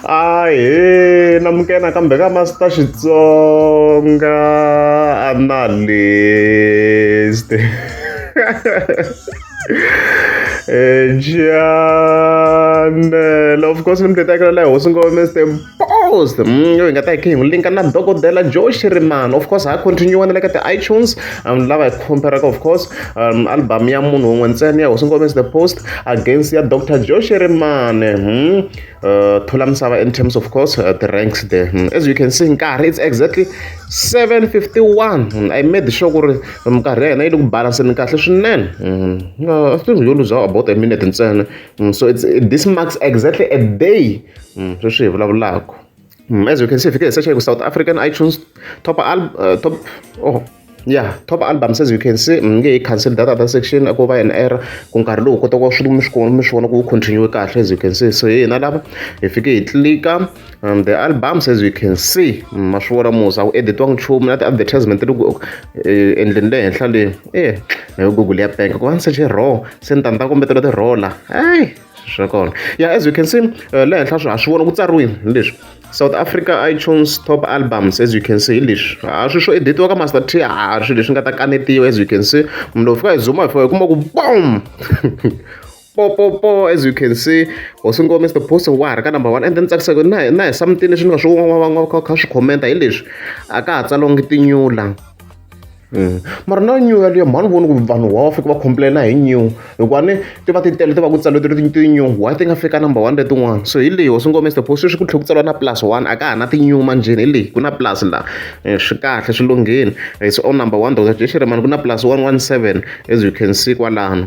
ahe namukena kambe ka masita xitsonga analyst Janela of course ni mi tetekela la hosi ngo Mr Post mm, yo hi nga ta hi khe hi n'wi linka na dokodela Joe Shirimani of course ha continue na le ka ti-iTunes vanhu lava hi khomperaka of course um, album ya munhu un'we ntsena ya hosi ngomesi the post against ya dr joshi rimane hmm? uh, thula misava in terms of course uh, the ranks there hmm? as you can see nkarhi it's exactly 751 hmm? i made sure ku ri minkarhi ya hina yi le ku balanseni kahle swinene hmm? uh, i think yo luza about a minute ntsena hmm? so it's, this marks exactly a day hmm? sweswi hi vulavulaka Mm, as you can see, if you can search with South African iTunes top album, uh, top oh yeah top albums as you can see mm, nge cancel that other section ku va an error ku nkarhi lowu kota ku va swi mi swi kona mi swi vona ku continue kahle as you can see so hi hina lava hi fike hi tlika um, the albums as you can see mm, ma swi vona musa wu editiwanga nchumu na ti-advertisement loko eh, endleni le henhla leyi e eh, na yo google ya penka ku va ni seche raw se ni ta ni ta kombetela ti-roller hayi swa kona yeah as you can see uh, le henhla swi ha swi vona ku tsariwile hi leswi south africa itunes top albums as you can see hi leswi a swi swo editiwa ka master t a swi leswi nga ta kanetiwa as you can see munhu lowu fika hi zuma hi fika hi kuma ku bom popopo as you can see hosi ngo mr poster wa ha ri ka number one and then tsakisaka na na hi samutini leswi ni nga swi kha swi khomenta hi leswi a ka ha tsalongi tinyula Mm. mara na new yaliyo mhani voni ku vanhu wa fika va complaina hi new hikuva ni ti va ti tele ti va ku tsaliwe ti ri ti new why ti nga fika number one letin'wana so hi leyi hosi ngome stepho sweswi ku tlhe ku tsaliwa na plus one a ka ha na ti-new manjheni hi leyi ku na plus laha eh, swi kahle swi lungheni it's eh, on number one dr jeshiremani ku na plus one one seven as you can see kwalano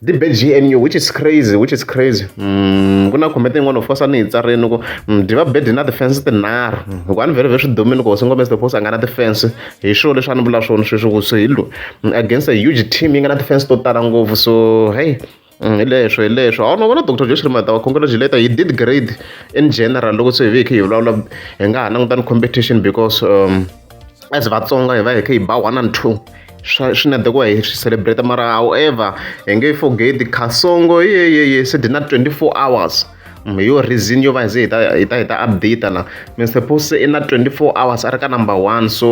the bad GNU which is crazy which is crazy mm, ku na comment yin'wana of course a ni yi tsarini ku mm, diva bad na defense tinharhu mm, hikuva a ni vhele vhe swi domini ku hosi ngombe stefos a nga na defense hi swilo leswi a ni vula swona sweswi ku so hi lo against a huge team yi nga na defense to tala ngopfu so hey hi leswo hi leswo a wu no vona doctor josh rimata wa congratulate he did great in general loko se hi ve hi kha hi vulavula hi nga ha langutani competition because um, as vatsonga hi va hi kha hi ba one and two swa swi na deko hi swi celebrate mara however hi nge forget khasongo yeyeye se dina 24 hours mm, hi yo reason yo va hi ze hi ta hi ta hi ta update na mr post i na 24 hours a ri ka number one so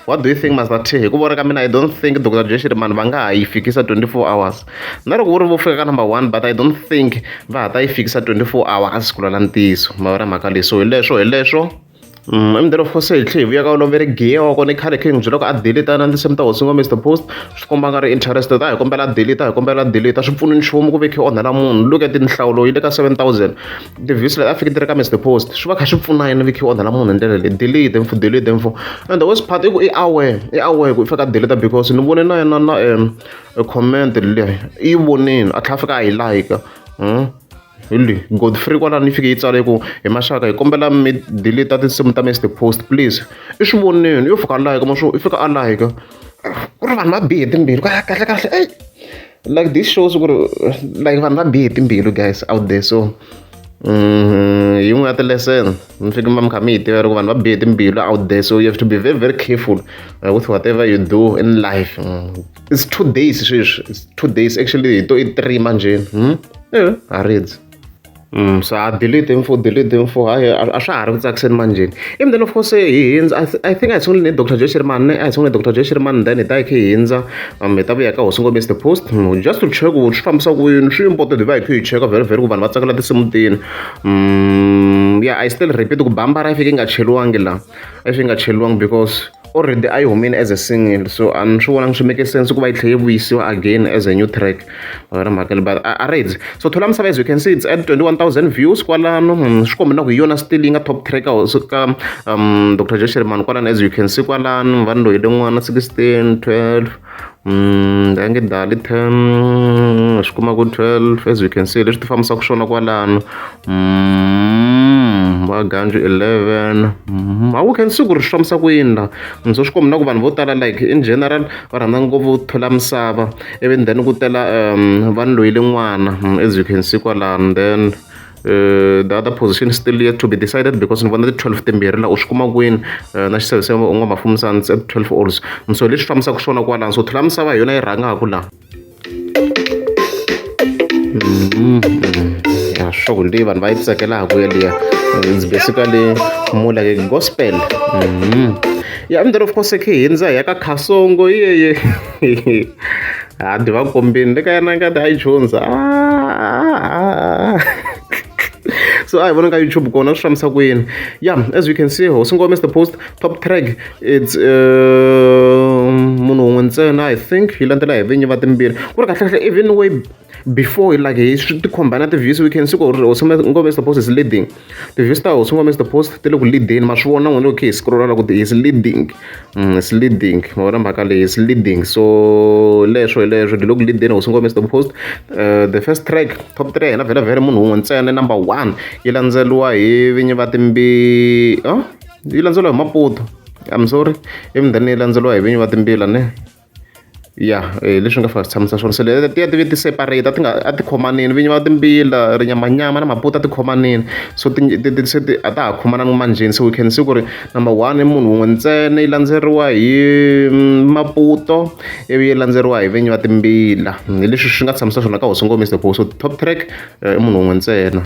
what do you think master t hi ku vona ka mina i don't think dr jeshiri mani va nga ha yi fikisa 24 hours na loko ku ri vo fika ka number one but i don't think va ha ta yi fikisa 24 hours ku lwela ntiyiso mavona mhaka leyi so hi leswo hi leswo Mdorofosi hi tlhela hi vuya ka oloveri giya wa kona i khale khe n'wi byela ku a delete na tinsimu ta hosi ngombe the post swi komba nga ri interest ta hi kombela delete hi kombela delete swi pfuni nchumu ku ve khe onhela munhu look at nhlawulo yi le ka 7000 tivhiwisi leti a fike ti ri ka mr post swi va kha swi pfuna yini vi khe onhela munhu hi ndlela leyi delete mfo delete mfo and the worst part i ku i aware i aware ku i fika delete because ni vone na yena na um comment leyi i yi vonile a tlhela a fika a yi like Hello, Godfrey kwalani yi fike yi tsale ku hi maxaka hi kombela mi delete tinsimu ta Mr Post please i swi voneni yo fika like ma swo i fika a like ku ri vanhu va bihe timbilu ka kahle kahle ey like this shows ku ri like vanhu va bihe timbilu guys out there so mm, yin'we ya tilesson mi fike ma mi kha mi yi tiva loko vanhu va bihe timbilu out there so you have to be very very careful uh, with whatever you do in life mm. it's two days sweswi it's two days actually hi to i three manjeni hmm? yeah, ha rindzi Mm, so I delete info, delete info. I I swa ha ri ku tsakiseni manjeni. Even then of course eh, hi hindza I, th I think I sungule ni Dr. Joe Sherman, ne I sungule Dr. Joe Sherman then hi ta khe hi hindza um hi ta vuya ka Hosi Ngombe the post mm, just to check ku swi fambisa ku yini swi important hi va hi khe hi cheka very very ku vanhu va tsakela tinsimu tini. Mm, yeah I still repeat ku bambara yi fike yi nga cheliwangi la. Yi fike yi nga cheliwangi because already a yi humile as a single so a ni swi vonangi swi make sense ku va yi tlhela yi vuyisiwa again as a new track wena mhaka le but a reds so thola misava as you can see it's at 21000 views kwalano hmm, swi kombe na ku hi yona still yi nga top track ka ka um dr josh sherman kwalano as you can see kwalano vanhu loyi le n'wana 16 12 a nge dali ten swi kuma ku twelve as you can see leswi ti fambisaka swona kwalano va ganju eleven a wu can see ku ri swi fambisa ku yini la so swi kombi na ku vanhu vo tala like in general va rhandza ngopfu thola misava ivi then ku tela um va ni loyile n'wana as you can see kwalano then Eh, the other position is still yet to be decided because ni vona ti-12 timbirhi laha u swi kuma kwini eh, na xisevese u nga mafumisani at 12 ols so leswi fambisaka swona kwalano so thula misava hi yona yi rhangaku laha mm-hmm. ya sure leyi vanhu va yi tsakelaka ku yeliya it's basically more like a gospel mm -hmm. ya yeah, and then of course khe hindza hi ya ka khasongo yeye ha dyi va kombini le ka yena ngati a yi chundza so I want to go YouTube kona swi fambisa ku yini yeah as you can see hosi ngoma is the post top track it's uh, munhu un'we ntsena i think yi landzela hi vinyi va timbirhi ku ri kahlekahle even way before like hi swi tikhomba na ti-views we can see ku ri hosi ngome is the post is leading ti-views ta hosi ngome is the post ti le ku leadeni ma swi vona n'wina okay hi scrolla loko is leading mm, is leading ma vona mhaka leyi is leading so leswo hi leswo ti le ku leadeni hosi ngome is the post uh, the first track top three hela vhele vhele munhu un'we ntsena number one yi landzeriwa hi vinyi va timbi oh? yi landzeriwa hi maputo i'm sorry emindhani yi landzeriwa hi vinyi va timbila ne ya hi leswi nga fika swi tshamisa swona se leti ti ya ti ve ti separate a ti nga a ti khomanile vinyi va timbila rinyamanyama na mabuti a ti khomanile so ti ti ti se ti a ta ha khomananga manjheni se we can see ku ri number one i munhu wun'we ntsena yi landzeriwa hi maputo ivi yi landzeriwa hi vinyi va timbila hi leswi swi nga tshamisa swona ka hosi ngomisa hikuva so top track i munhu wun'we ntsena.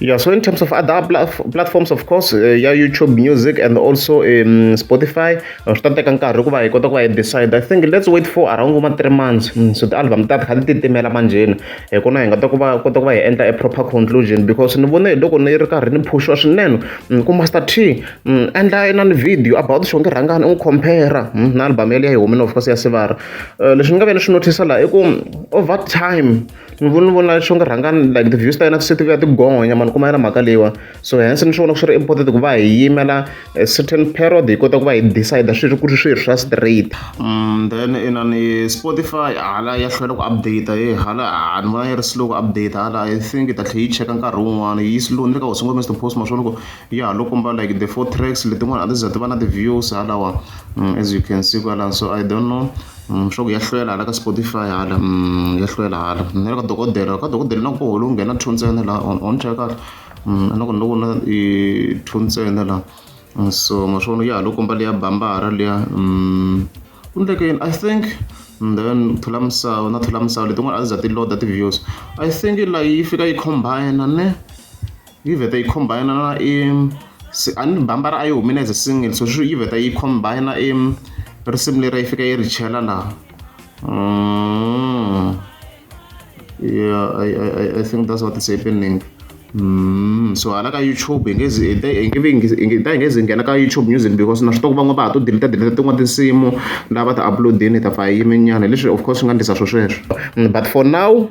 Yeah, so in terms of other platforms, of course, uh, yeah, YouTube Music and also um, Spotify, uh, swi ta teka nkarhi ku va hi kota ku va hi decide. I think let's wait for around kuma three months. Mm, so ti-album ta kha ti titimela manjheni. Hi kona hi nga ta ku va kota ku va hi endla a proper conclusion because ni vone loko ni ri karhi ni phushwa swinene mm, ku Master T mm, endla na ni video about xonge rhangani u compare na album yaleyo ya hi humile of course ya Sivara. Uh, Leswi ni nga ve ni swi notice la i ku over time Ni vona ni vona xo ku rhanga like ti-views ta yena se ti vuya ti gonya mani kuma yona mhaka leyiwani so hence ni swi vona swi ri important ku va hi yimela a certain period hi kota ku va hi decide swi ri ku ri swi ri swa straight then inani Spotify hala ya hlwela ku update he hala a ni vona yi ri slow ku update hala I think yi ta tlhela yi cheka nkarhi wun'wana yi slow ni le ka Hosi Ngome Mister Post ma swi vona ku ya ha lo komba like the four tracks letin'wana a ti za ti va na ti-views halawa as you can see kwalano so I don't know. swa ku ya hlwela hala ka Spotify hala ya hlwela hala ni le ka dokodela ka dokodela na koho lowu nghena two ntsena laha on on cheka a na ku ni loko na i two ntsena laha so ma swi vona ya ha lo komba leya bambara liya ku endleke yini I think then thula misava na thula misava letin'wana a ti za ti load ti-videos I think laha yi fika yi combine ne. yi vheta yi combine na i a ni bambara a yi humile as a single so swi yi vheta yi combine i risimu leri yi fika yi ri chela laha mm. yeah I, I, I think that's what is happening Mm, so hala ka youtube hi nge zi ta hi nge zi nghena ka youtube music because na swi tiva ku van'wana va ha to deleta deleta tin'wana tinsimu lava ta uploadini ta pfa hi yimenyana hi leswi of course swi nga ndlisa swo sweswo mm, but for now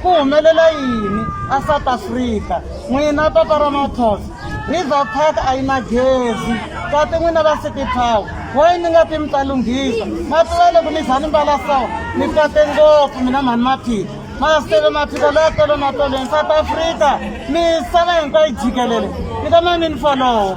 Ku humelela yini aSouth Africa? N'wina papa ra Matos, River Park a yi na gezi. Kati n'wina va City Power, why mi nga pi mi ta lunghisa? Ma tiva loko mi za ni mbala so, mi tsake ngopfu mina mhani Maphika. Masitele Maphika loyi a tele na tolweni. South Africa, misava hinkwayo jikelele, mi ta ma mi ni follow.